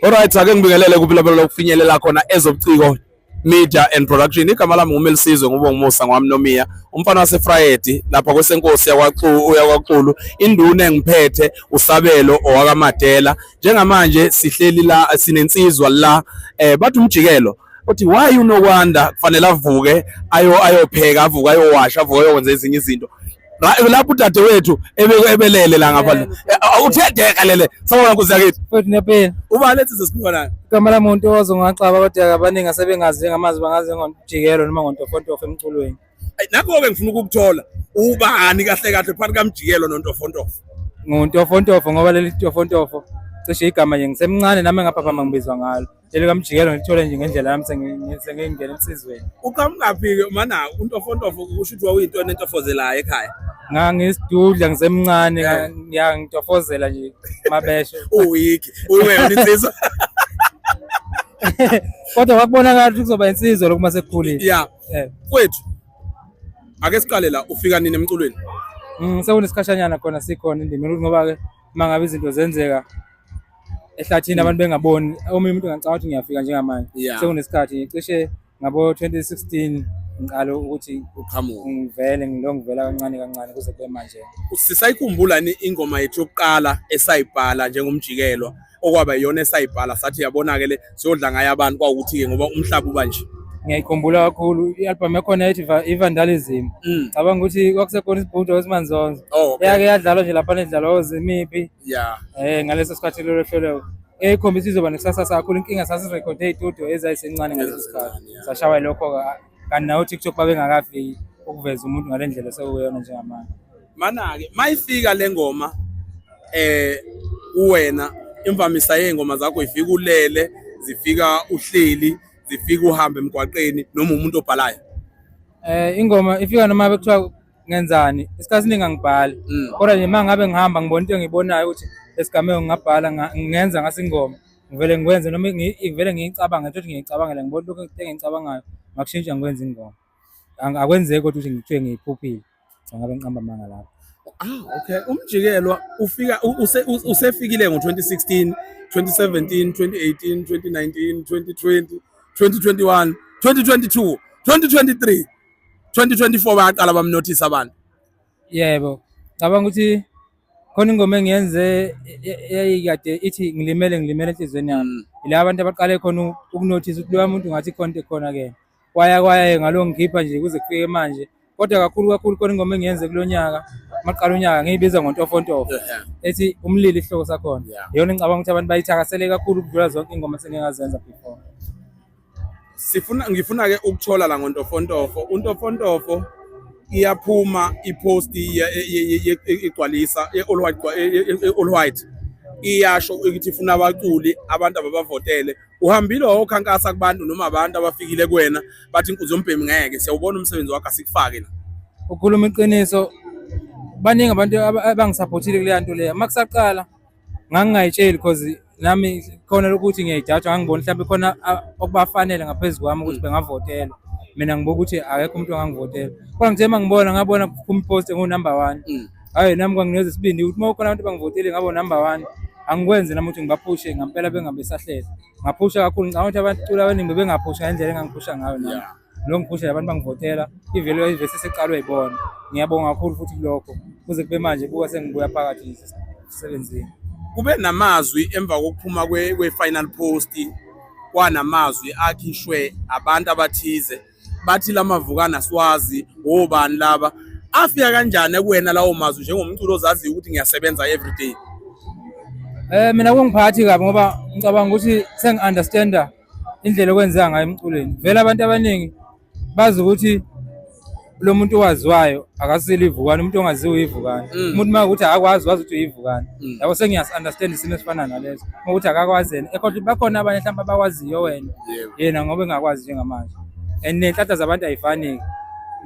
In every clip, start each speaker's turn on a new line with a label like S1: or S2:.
S1: Alright, ake ngibingelele kuphilabelo lokufinyelela khona ezobuciko media and production. Igama lami nguMelisizwe ngubongimusa ngwamnomiya umfana wasefrayedi lapha kwesenkosi yakwaxulu induna engiphethe usabelo owakamadela njengamanje sihleli la sinensizwa la eh bathi umjikelo uthi why unokwanda kufanele avuke ayo ayopheka avuke ayowasha avuke ayokwenza ezinye izinto lapho udade wethu ebelele la ngapha eh, eh, uthedeka lele sawona nkosi yakithi futhi nepeni uba
S2: lethi sesiphiwa
S1: nayo igama lami umuntu owazi
S2: ngaxaba kodwa abaningi asebengazi njengamazi bangazi ngonjikelo noma ngontofontofa emculweni nakho-ke ngifuna
S1: ukukuthola ubani kahle kahle phakathi kamjikelo nontofontofo ngontofontofo
S2: ngoba leli tofontofo cishe igama nje ngisemncane nami engaphaphama ngibizwa ngalo Jele kamjikelo ngithole nje ngendlela yami sengingena emsizweni. Uqhamukaphi-ke
S1: mana untofontofo kusho ukuthi wawuyinto enentofozelayo ekhaya? Ngangisidudla
S2: ngisemncane ya ngitofozela nje mabesho. Uwiki,
S1: uwena insizwa.
S2: Kodwa kwakubonakala ukuthi kuzoba insizwa lokuma sekukhulile. Yeah. Eh.
S1: Kwethu. Ake siqale la ufika nini emculweni? Mm, sekunesikhatshanyana
S2: khona sikhona indima ngoba ke mangabe izinto zenzeka ehlathini abantu bengaboni omunye umuntu ngicabanga ukuthi ngiyafika njengamanje Yeah. sekunesikhathi cishe ngabo-2016 ngiqale ukuthi uqhamuka ngivele
S1: ngilo ngivela
S2: kancane kancane kuze kube manje sisayikhumbula ni
S1: ingoma yethu yokuqala esayibhala njengomjikelo okwaba yiyona esayibhala sathi yabona-ke le siyodla ngayo abantu kwawukuthi-ke ngoba umhlaba uba nje ngiyayikhumbula kakhulu
S2: i-albhamu yakhona ethi Va- i-vandalism Mm. cabanga ukuthi kwakusekhona isibhudo esimanzonzo Oh, okay. yake yadlalwa nje laphana edlalwa ozimiphi yeah eh ngaleso sikhathi lelo hlelo ekhombisa izoba nekusasa sakhulu inkinga sasirekhode iy'tudio ezayisencane ngaleso sikhathi Yeah. sashawa lokho-ke kanti nawo tiktok babengakafiki ukuveza umuntu ngale ndlela sewuyona njengamanje mana-ke
S1: mayifika le ngoma eh uwena imvamisa yey'ngoma zakho ifika ulele zifika uhleli zifika uhambe emgwaqeni noma umuntu obhalayo Eh
S2: ingoma ifika noma bekuthiwa ngenzani isikhathi siningi angibhali mm. kodwa nje uma ngabe ngihamba ngibona into engiyibonayo ukuthi esigameko ngingabhala ngingenza ngase ingoma ngivele ngikwenze noma ngivele ngiyicabange ukuthi ngiyicabangela ngibona lokho engiyicabangayo ngakushintsha ngikwenza ingoma akwenzeki kodwa ukuthi ngithiwe ngiyiphuphile ngabe ngiqamba amanga lapho ah okay
S1: umjikelwa ufika usefikile ngo-2016 2017 2018 2019 2020 2021 2022 2023 2024 bayaqala bamnothisa abantu yebo
S2: cabanga ukuthi khona ingoma engiyenze eyayikade ithi ngilimele ngilimele enhliziyweni yami mm. ila abantu abaqale khona ukunothisa ukuthi loya muntu ngathi khona khona ke kwaya kwaya ngalo ngikhipha nje kuze kufike manje kodwa kakhulu kakhulu khona ingoma engiyenze kulo nyaka maqala unyaka ngiyibiza ngontofontofo ethi umlilo isihloko sakhona yona ngicabanga ukuthi abantu bayithakasele kakhulu ukudlula zonke ingoma sengikazenza before sifuna
S1: ngifuna ke ukuthola la ngontofontofo untofontofo iyaphuma ipost igcwalisa all white all white iyasho ukuthi ifuna abaculi abantu ababavotele uhambile wawokhankasa kubantu noma abantu abafikile kuwena bathi inkunzi yombhemi ngeke siyawubona umsebenzi wakho asikufake la ukhuluma iqiniso
S2: baningi abantu abangisaphothile kuleya nto leya uma kusaqala ngangingayitsheli because nami khona lokuthi ngiyayijajwa ngangibona mhlawumbe khona okubafanele ngaphezu kwami ukuthi mm. bengavotelwa mina ngibuka ukuthi akekho umuntu ongangivotela kodwa ngithe uma ngibona ngabona kuphuma ipost engu-number one mm. hhayi nami kwangineza isibindi ukuthi uma kukhona abantu bangivotile ngabo number one angikwenzi nami ukuthi ngibaphushe ngampela bengabe sahlele ngaphusha kakhulu ngicabanga ukuthi abaculi abaningi bebengaphusha ngendlela engangiphusha ngayo nami lo ngiphusha abantu bangivotela ivele ivese seqalwe yibona ngiyabonga kakhulu futhi kulokho kuze kube manje buka sengibuya phakathi nje emsebenzini kube
S1: namazwi emva kokuphuma kwe-final post kwanamazwi akhishwe abantu abathize bathi lamavukana siwazi wobani laba afika kanjani kuwena lawo mazwi njengomculo ozaziyo ukuthi ngiyasebenza everyday
S2: Eh mina kungiphathi kabi ngoba ngicabanga ukuthi sengi-understanda indlela okwenzeka ngayo emculweni vele abantu abaningi bazi ukuthi lo muntu owaziwayo akasile ivukane umuntu ongaziwe ivukane mm. umuntu uma ukuthi akakwazi wazi ukuthi uyivukane mm. yabo sengiyas-understand isimo esifana naleso uma ukuthi akakwazi yena ekhohle bakhona abanye mhlawumbe abakwaziyo wena yena ngoba engakwazi njengamanje and nenhlanhla zabantu ayifani-ke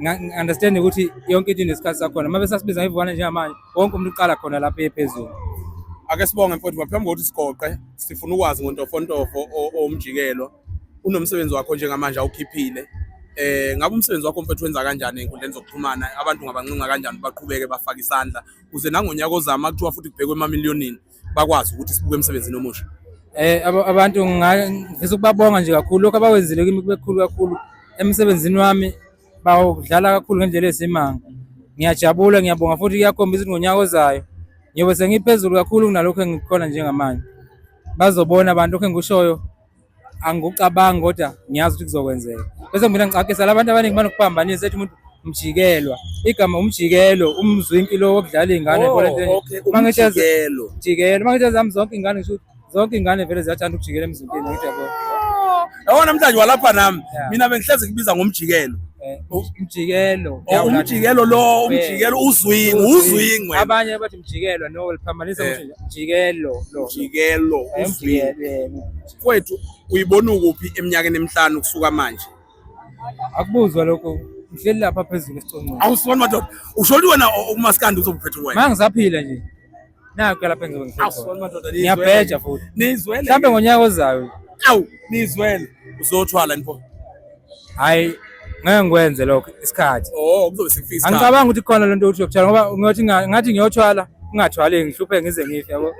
S2: ngi-understand ukuthi yonke into inesikhathi sakhona uma besasibiza ngivukane njengamanje wonke umuntu uqala khona lapho ephezulu ake sibonge
S1: mfowethu ngaphambi kokuthi sigoqe sifuna ukwazi ngontofontofo owumjikelo unomsebenzi wakho njengamanje awukhiphile eh ngabe umsebenzi wakho mfethu wenza kanjani enkundleni zokuxhumana abantu ngabanqunqa kanjani baqhubeke bafake isandla kuze nangonyaka ozama kuthiwa futhi kubhekwe emamiliyonini bakwazi ukuthi sibuke emsebenzini omusha eh
S2: abantu ngifisa ukubabonga nje kakhulu lokho abawenzile kimi kubekhulu kakhulu emsebenzini wami bawudlala kakhulu ngendlela esimanga ngiyajabula ngiyabonga futhi kuyakhombisa ukuthi ngonyaka ozayo ngiyobe sengiphezulu kakhulu kunalokho engikhona njengamanje bazobona abantu lokho engikushoyo angikucabangi kodwa ngiyazi ukuthi kuzokwenzeka bese mina ngicacisa labantu abaningi banokuphambanisa ethi umuntu mjikelwa igama umjikelo umzwinki lo wokudlala iy'ngane oh, okay, umjikelo mjikelo uma ngithi zami zonke iy'ngane ngisho ukuthi Zonke ingane vele ziyathanda ukujikela emzimbeni ngithi yabo. Yabona
S1: namhlanje walapha nami. Yeah. Mina bengihlezi ngibiza ngomjikelo. Eh, umjikelo. Oh, umjikelo lo, umjikelo uzwingi, uzwingi. Abanye bathi
S2: mjikelo no liphambanisa ukuthi eh. mjikelo lo. Mjikelo eh, uzwingi.
S1: Kwethu uyibona ukuphi eminyakeni emihlanu kusuka manje? Akubuzwa
S2: lokho. Ngihleli lapha phezulu esiconqweni. Awusibona madoda.
S1: Usholi wena umaskandi uzobuphetha wena. Mangisaphila nje.
S2: Naku lapha engizobe ngisekhona. Ngiyabheja
S1: futhi.
S2: Nizwele. Mhlambe ngonyaka
S1: ozayo.
S2: Awu, nizwele.
S1: Uzothwala nipho. Hayi,
S2: ngeke ngikwenze lokho isikhathi. Oh, kuzobe sekufika isikhathi.
S1: Angicabanga ukuthi khona lento
S2: ukuthi yokuthwala ngoba ngiyothi ngathi ngiyothwala ungathwali ngihlupheke ngize ngife yabo.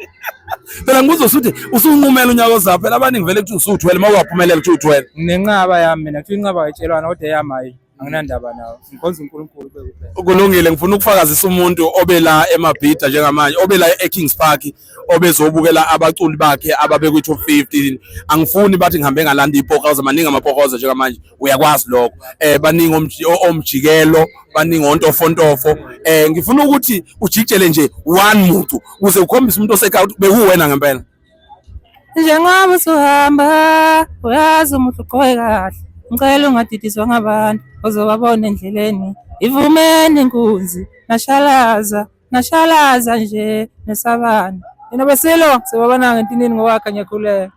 S2: Phela ngibuza
S1: usuthi usunqumela unyaka ozayo phela abaningi vele kuthi usuthwele uma ungaphumelela kuthi uthwele. Nginenqaba yami mina
S2: kuthi inqaba ayitshelwana kodwa eyami hayi. anginandaba nawo ngikhonza uNkulunkulu kuphela kulungile ngifuna ukufakazisa
S1: umuntu obe la emabhida njengamanje obe la eKings Park obezobukela abaculi bakhe ababe kwi top 15 angifuni bathi ngihambe ngalanda ipokoza maningi amapokoza njengamanje uyakwazi lokho eh baningi omjikelo baningi ontofontofo eh ngifuna ukuthi ujikjele nje one muntu kuze ukhombise umuntu oseka bekuwena ngempela
S2: njengoba usuhamba uyazi umuhle ugqoke kahle ngicela ungadidiswa ngabantu ozobabona endleleni ivumeni inkunzi nashalaza nashalaza nje nesabani yena besilo sibabona ngentinini ngokwakhe ngiyakhuleka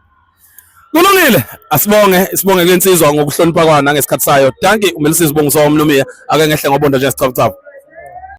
S2: Kulungile
S1: asibonge sibonge kwensizwa ngokuhlonipha kwana ngesikhathi sayo. Danki uMelisisi Bongiso womlumiya ake ngehle ngobondo nje sicabucabu.